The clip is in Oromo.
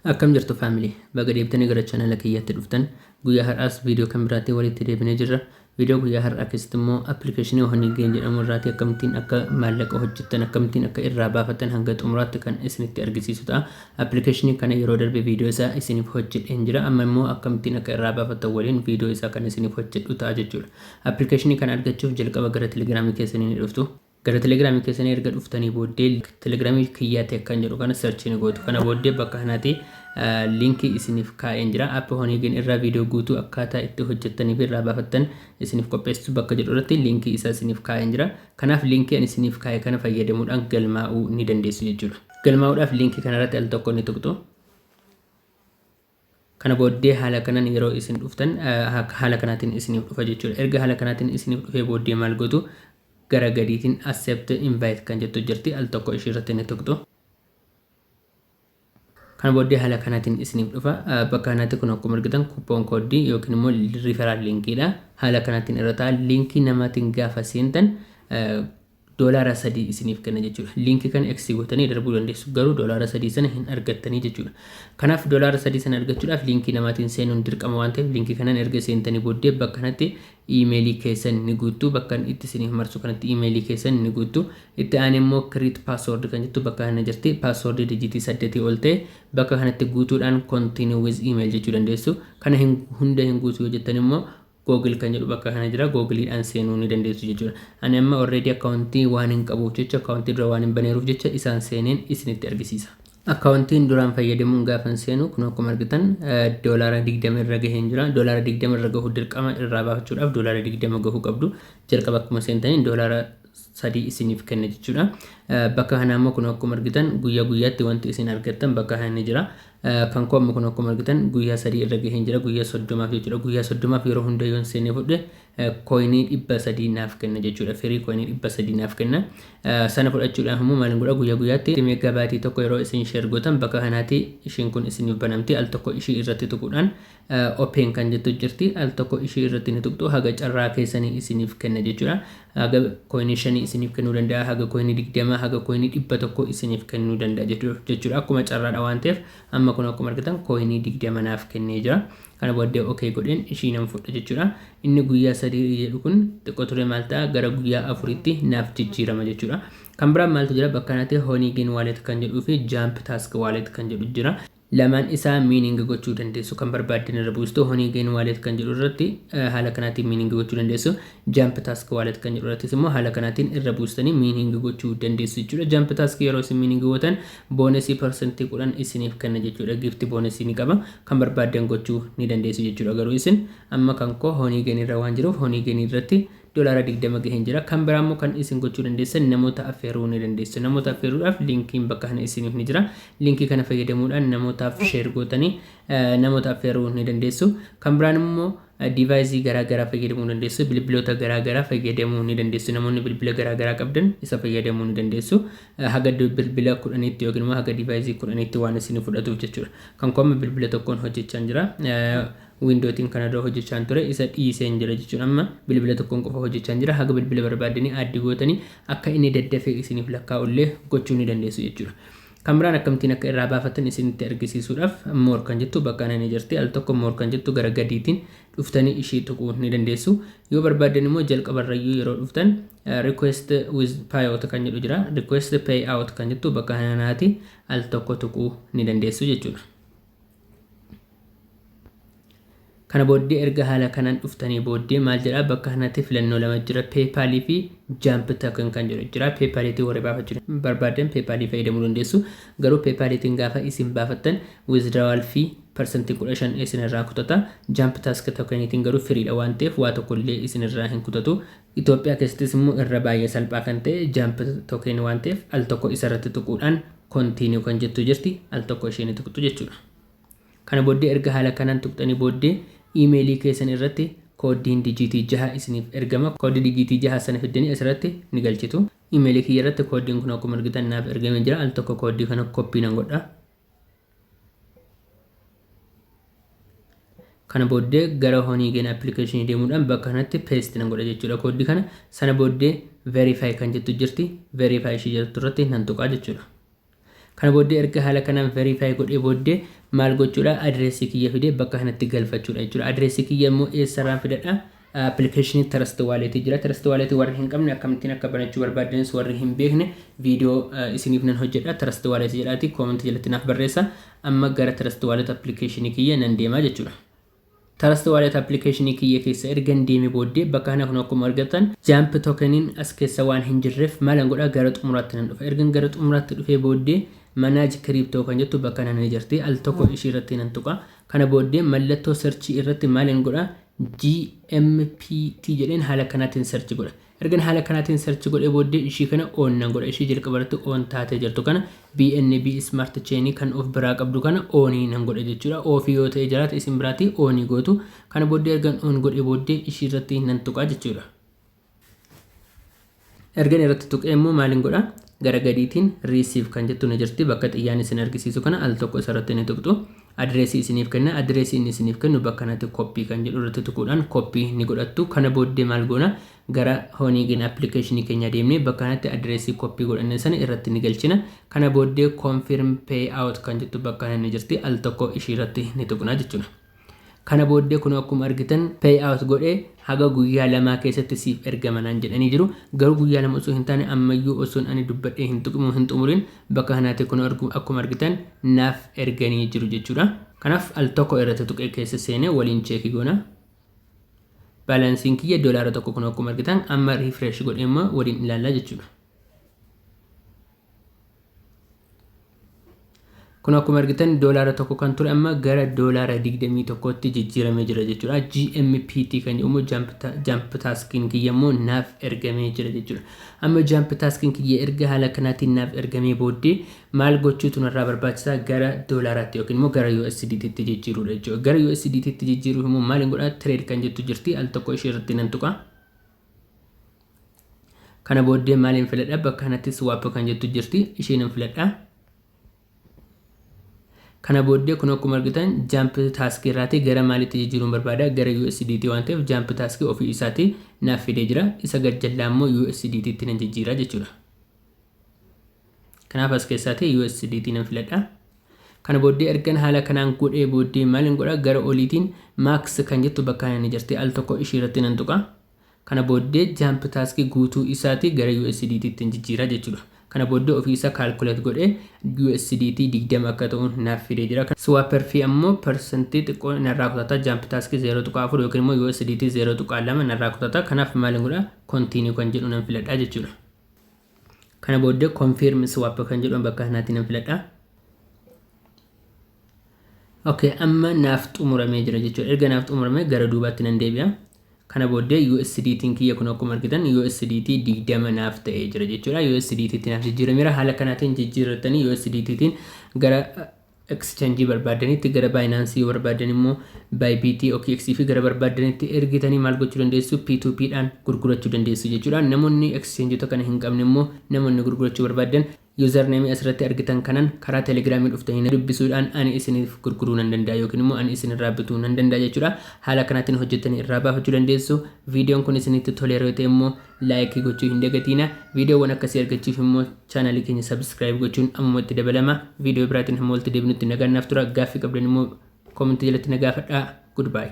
Akkam jirtu family baga deebitani gara channel kiyyatti dhuftan guyyaa har'aas video kan biraatti walitti deebinee jirra video guyyaa har'aa keessatti immoo application honey gain jedhamu irraati akkamittiin akka maallaqa hojjettan akkamittiin akka irraa baafattan hanga xumuraatti kan isinitti argisiisu ta'a application kana yeroo darbe video isaa isiniif hojjedheen jira amma immoo akkamittiin akka irraa baafattan waliin video isaa kan isiniif hojjedhu ta'a jechuudha application kana argachuuf jalqaba gara telegramii keessanii ni dhuftu Gara telegramii keessanii erga dhuftanii booddee telegramii kiyyaa tech kan jedhu kana search ni gootu. Kana booddee bakka kanatti linkii isiniif kaa'een jira. Appi Honeygen irraa viidiyoo guutuu akkaataa itti hojjettanii fi irraa baafattan isiniif qopheessitu bakka jedhu irratti linkii isaa isiniif kaa'een jira. Kanaaf linkii ani isiniif kaa'e kana fayyadamuudhaan galmaa'uu ni dandeessu jechuudha. Galmaa'uudhaaf linkii kanarratti al tokko ni tuqxu. Kana booddee haala kanan yeroo isin dhuftan haala kanaatiin isiniif dhufa jechuudha. Erga haala kanaatiin isiniif dhufee booddee maal gootu gara gadiitiin accept invite kan jettu jirti al tokko ishii irratti ni tuqxu. Kana booddee haala kanaatiin isiniif dhufa. Bakka kanatti kun akkuma argitan kuppoon kooddii yookiin immoo riferaal linkiidha. Haala kanaatiin irra ta'a. Linkii namaatiin gaafa seentan doolaara sadii isiniif kenna jechuudha. Liinkii kana X gootanii darbuu dandeessu garuu doolaara sadii sana hin argattanii jechuudha. Kanaaf doolaara sadii sana argachuudhaaf liinkii namaatiin seenuun dirqama waan ta'eef liinkii kanaan erga seentanii booddee bakka kanatti iimeelii keessan ni guuttu bakkan itti isiniif marsu kanatti iimeelii keessan ni guuttu itti aanee immoo create password kan jettu bakka kana jirti password dijitii saddetii ol ta'e bakka kanatti guutuudhaan continue with email jechuu dandeessu kana hin hunda hin guutu yoo jettan immoo Google kan jedhu bakka kana jira googiliidhaan seenuu ni dandeessu jechuudha. Ani amma already akkaawuntii waan hin qabuuf jecha akkaawuntii dura waan hin baneeruuf jecha isaan seeneen isinitti argisiisa. Akkaawuntiin duraan fayyadamuun gaafan seenu kun akkuma argitan doolaara 20 irra gaheen jira. Doolaara 20 irra gahu dirqama irraa baafachuudhaaf doolaara 20 gahuu qabdu. Jalqaba akkuma seentaniin doolaara sadii isiniif kenna jechuudha. Bakka kanaa immoo kun akkuma argitan guyyaa guyyaatti wanti isin argattan bakka kana ni jira. Kan koo amma kun akkuma argitan guyyaa sadii irra gaheen jira guyyaa soddomaaf jechuudha. Guyyaa soddomaaf yeroo hunda yoon seenee fudhe kooyinii dhibba sadii naaf kenna jechuudha. Firii kooyinii dhibba sadii naaf kenna. Sana fudhachuudhaaf immoo maal godha guyyaa guyyaatti meegaa baatii tokko yeroo isin sheer gootan bakka kanaatti ishiin kun isiniif banamti al tokko ishii irratti tuquudhaan Open kan jettu jirti al tokko ishii irratti ni tuqxu haga carraa keessanii isiniif kenna jechuudha haga koinii shanii isiniif kennuu danda'a haga koinii digdama haga koinii dhibba tokko isiniif kennuu danda'a jechuudha akkuma carraadha waan ta'eef amma kun akkuma argitan koinii digdama naaf kennee jira kana booddee ok godheen ishii nan fudha jechuudha inni guyyaa sadii jedhu kun xiqqoo ture maal ta'a gara guyyaa afuritti naaf jijjiirama jechuudha kan biraan maaltu jira bakka kanatti honey gain wallet kan jedhuu fi jump task wallet kan jedhu jira Lamaan isaa meaning gochuu dandeessu. Kan barbaaddan irra buustu honeygain wallet kan jedhu irratti haala kanaatiin meaning gochuu dandeessu. Jump task wallet kan jedhu irrattis immoo haala kanaatiin irra buustanii meaning gochuu dandeessu jechuudha. Jump task yeroo isin meaning gootan boonesii parsantii kudhan isiniif kenna jechuudha. Gift boonesii ni qaba. Kan barbaaddan gochuu ni dandeessu jechuudha. Garuu isin amma kan koo honeygain irra waan jiruuf honeygain irratti Dolaara 20 gaheen jira. Kan biraa immoo kan isin gochuu dandeessan namoota affeeruu ni dandeessu. Namoota affeeruudhaaf linkiin bakka kana isiniif ni jira. Linkii kana fayyadamuudhaan namootaaf sheer gootanii namoota affeeruu ni dandeessu. Kan biraan immoo diivaayizii garaa garaa fayyadamuu dandeessu. Bilbiloota garaa garaa fayyadamuu ni dandeessu. Namoonni bilbila garaa garaa qabdan isa fayyadamuu ni dandeessu. Haga bilbila kudhaniitti yookiin immoo haga diivaayizii kudhaniitti waan isin fudhatuuf jechuudha. Kan koo amma bilbila tokkoon hojjechaan jira. Window tiin kana dura hojjechaan ture isa dhiiseen jira jechuun amma bilbila tokkoon qofa hojjechaan jira haga bilbila barbaaddanii add gootanii akka inni daddafee isiniif lakkaa'u illee gochuu ni dandeessu jechuudha. Kan biraan akkamittiin akka irraa baafattan isinitti argisiisuudhaaf more kan jettu bakka kana ni jirti al tokko more kan jettu gara gadiitiin dhuftanii ishii tuquu ni dandeessu. Yoo barbaaddan immoo jalqabarrayyuu yeroo dhuftan request with payout kan jedhu jira request payout kan jettu bakka kananaati al tokko tuquu ni dandeessu jechuudha. Kana booddee erga haala kanaan dhuftanii booddee maal jedhaa bakka kanatti filannoo lama jira PayPal fi Jump Token kan jedhu jira PayPal itti warri baafachuu barbaadan PayPal fayyadamuu dandeessu garuu PayPal ittiin gaafa isin baafattan withdrawal fi parsantii 15 isin irraa kutata Jump Task Token ittiin garuu firiidha waan ta'eef waa tokko illee isin irraa hin kutatu Itoophiyaa keessattis immoo irra baay'ee salphaa kan ta'e jump token waan ta'eef al tokko isa irratti tuquudhaan continue kan jettu jirti al tokko ishee ni tuqxu jechuudha. Kana booddee erga haala kanaan tuqxanii booddee iimeelii keessan irratti kooddiin dijiitii jaha isiniif ergama. Kooddii dijiitii jaha sana fiddanii asirratti ni galchitu. Iimeelii kiyya irratti kooddiin kun akkuma argitan naaf ergamee jira. Al tokko kooddii kana koppii nan godha. kana booddee gara honiigen appilikeeshinii deemuudhaan bakka kanatti peest nan godha jechuudha kooddii kana sana booddee verify kan jettu jirti verify ishii jirtu irratti nan tuqaa jechuudha kana booddee erga haala kanaan verify godhee booddee maal gochuudha adireessii kiyya fidee bakka kanatti galfachuudha jechuudha adireessii kiyya immoo eessarraan fidadha Appilikeeshinii Trust Wallet jira. Trust Wallet warri hin qabne akkamittiin akka banachuu barbaaddanis warri hin beekne viidiyoo isiniif nan hojjedha. Trust Wallet jedhaati comment jalatti naaf barreessa. Amma gara Trust Wallet appilikeeshinii kiyya nan deema jechuudha. Trust Wallet appilikeeshinii kiyya keessa ergan deeme booddee bakka kana kun akkuma argattan jump tokeniin as keessa waan hin jirreef maalan godha gara xumuraatti nan dhufa. Ergan gara xumuraatti dhufee booddee manage crypto kan jettu bakka kana ni jirti. Al tokko ishii irratti nan tuqa. Kana booddee mallattoo search irratti maalin godha? GMPT jedheen haala kanaatiin search godha. Ergan haala kanaatiin search godhee booddee ishii kana on nan godha. Ishii jalqaba irratti on taatee jirtu kana BNB Smart Chain kan of biraa qabdu kana on nan godha jechuudha. Off yoo ta'ee jiraate isin biraati on gootu. Kana booddee ergan on godhee booddee ishii irratti nan tuqaa jechuudha. ergan irratti tuqee immoo maaliin godha gara gadiitiin riisiif kan jettu ni jirti bakka xiyyaan isin argisiisu kana al tokko isarratti ni tuqxu adireesii isiniif kenna adireesii inni isiniif kennu bakka kanatti koppii kan jedhu irratti tuquudhaan koppii ni godhattu kana booddee maal goona gara hooniigin appilikeeshinii keenya deemnee bakka kanatti adireesii koppii godhannee sana irratti ni galchina kana booddee koonfirm pay out kan jettu bakka kana ni jirti al tokko ishii irratti ni tuqna jechuudha. Kana booddee kunoo akkuma argitan pay out godhee haga guyyaa lamaa keessatti siif ergama naan jedhanii jiru. Garuu guyyaa lama osoo hin taane ammayyuu osoon ani dubbadhee hin tuqimu hin xumurin bakka kanaatii kunoo argu akkuma argitan naaf erganii jiru jechuudha. Kanaaf al tokko irratti tuqee keessa seenee waliin cheekii goona. Baalaansiin kiyya doolaara tokko kunoo akkuma argitan amma refresh godhee immoo waliin ilaallaa jechuudha. kun akkuma argitan doolaara tokko kan ture amma gara doolaara 21tti jijjiiramee jira jechuudha. GMPT kan jedhamu jump taskiin kiyya immoo naaf ergamee jira jechuudha. Amma jump taskiin kiyya erga haala kanaatiin naaf ergamee booddee maal gochuutu narraa barbaachisaa gara doolaaraatti yookiin immoo gara USDTtti jijjiiruudha jechuudha. Gara USDTtti jijjiiruuf immoo maal godhaa trade kan jettu jirti al tokko ishee irratti nan tuqaa. kana booddee maaliin filadha bakka kanatti swap kan jettu jirti ishiin hin filadha kana booddee kun akkuma argitan jump task irraatii gara maalitti jijjiiruun barbaada gara USDT waan ta'eef jump task ofii isaatii naaf fidee jira isa gad jallaa immoo USDT itti nan jijjiira jechuudha. Kanaaf as keessaatii USDT nan filadha. Kana booddee ergan haala kanaan godhee booddee maalin godha gara oliitiin max kan jettu bakka kana ni jirti al tokko ishii irratti nan tuqa. Kana booddee jump task guutuu isaati gara USDT ittiin jijjiira jechuudha. Kana booddee ofii isaa calculate godhee USDT 20 akka ta'u naaf fidee jira. Swapper fee ammoo percentii xiqqoo narraa kutata jump task 0.4 yookiin immoo USDT 0.2 narraa kutata. Kanaaf maalin godha continue kan jedhu nan filadha jechuudha. Kana booddee confirm swap kan jedhu bakka kanaatti nan filadha. Okay, amma naaf xumuramee jira jechuudha. Erga naaf xumuramee gara duubaatti nan deebi'a. Kana booddee USDT'n kiyya kun akkuma argitan USDT 20 naaf ta'ee jira jechuudha. USDT'tti naaf jijjiirameera. Haala kanaatiin jijjiirrattanii USDT'tiin gara Exchange barbaaddanitti gara Binance yoo barbaaddan immoo Bybit, OKX fi gara barbaaddanitti ergitanii maal gochuu dandeessu P2P dhaan gurgurachuu dandeessu jechuudha. Namoonni exchangeota kana hin qabne immoo namoonni gurgurachuu barbaaddan username asirratti argitan kanan karaa Telegram dhuftanii na dubbisuudhaan ani isiniif gurguruu nan danda'a yookiin immoo ani isinirraa bituu nan danda'a jechuudha. Haala kanaatiin hojjettanii irraa baafachuu dandeessu. Viidiyoon kun isinitti toleera yoo ta'e immoo Like gochuu hin dagatiina. Viidiyoowwan akkasii argachuuf immoo chaanaalii keenya subscribe gochuun ammumatti dabalama. Viidiyoo biraatiin hamma walitti deebinutti nagaan naaf tura. Gaaffii qabdan immoo comment jalatti na gaafadhaa. Goodbye.